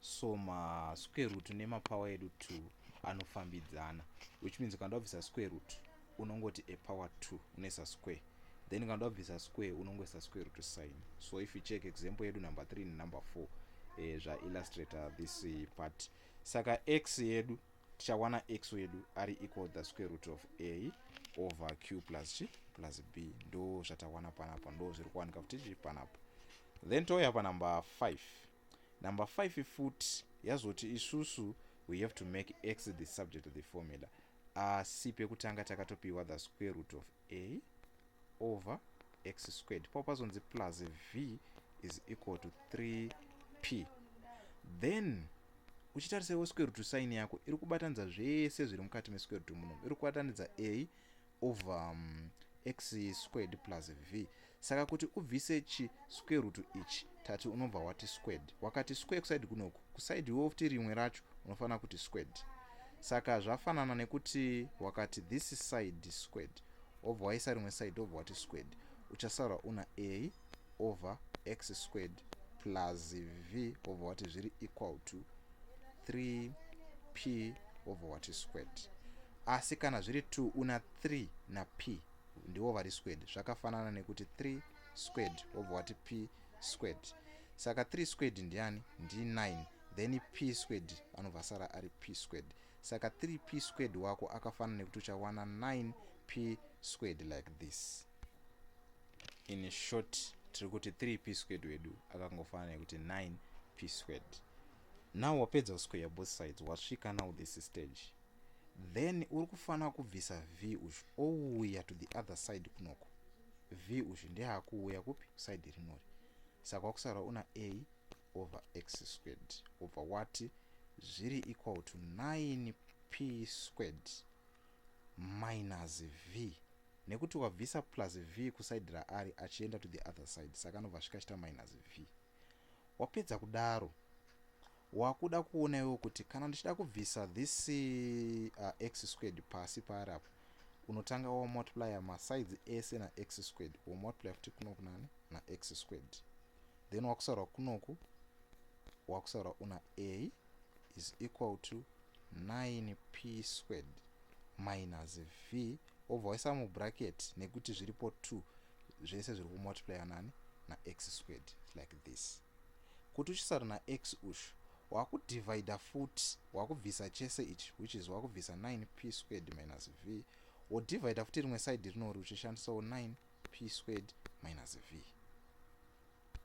so ma square root nema power edu 2 anofambidzana which means kana ndabvisa square root unongoti a power 2 unoisa square then kana ndabvisa square unongoisa square root sign so if you check example yedu number 3 nenumber 4 eh, zvaillustrator uh, this eh, part saka x yedu tichawana x wedu ari equal the square root of a over q plus chi plus b ndo zvatawana panapa ndo zviri kuwanika futi chi panapa then touya panumber 5 number 5 futi yazoti isusu we have to make x the subject of the formula asi pekutanga takatopiwa the square root of a over x squared pao pazonzi plus v is equal to 3p then uchitarisa iwo square root sign yako iri kubatanidza zvese zviri mukati mesquare root muno iri kubatanidza a over um, x squared plus v saka kuti ubvise chi square root ichi tati unobva wati squared wakati square kusaidi kunoku kusaidi iwe futi rimwe racho unofanira kuti squared saka zvafanana nekuti wakati this side squared wobva waisa rimwe side wobva wati squared uchasara una a over x squared plus v wobva wati zviri equal to 3p wobva wati squared asi kana zviri 2 una 3 na p ndivo vari squared zvakafanana nekuti 3 squared wobva wati p squared saka 3 squared ndiani ndi 9 then p squared anobva asara ari p squared saka 3 p squared wako akafanana nekuti uchawana 9 p squared like this in short tiri kuti 3 p squared wedu akangofanana nekuti 9 p squared now wapedza kusquare both sides wasvika now this stage then uri kufanira kubvisa v uyu ouya to the other side kunoko v uyu ndeakuuya kupi side rinori saka wakusara una a over x squared obva wati zviri equal to 9 p squared minus v nekuti wabvisa plus v kusaidi raari achienda to the other side saka anobva svika achita minus v wapedza kudaro wakuda kuona iwewo kuti kana ndichida kubvisa this uh, x squared pasi paari apo unotanga wamultiplya masides ese nax squared womultiplya futi kunoku nani nax squared then wakusaura kunoku wakusaura una a is equal to 9p squared minus v wobva waisa mubracket nekuti zviripo 2 zvese zviri kumultiplya nani nax squared like this kuti uchisara nax ushu wakudivida futi wakubvisa chese ichi which is wakubvisa 9 p squared minus v wodivida futi rimwe side rinori uchishandisawo 9 p squared minus v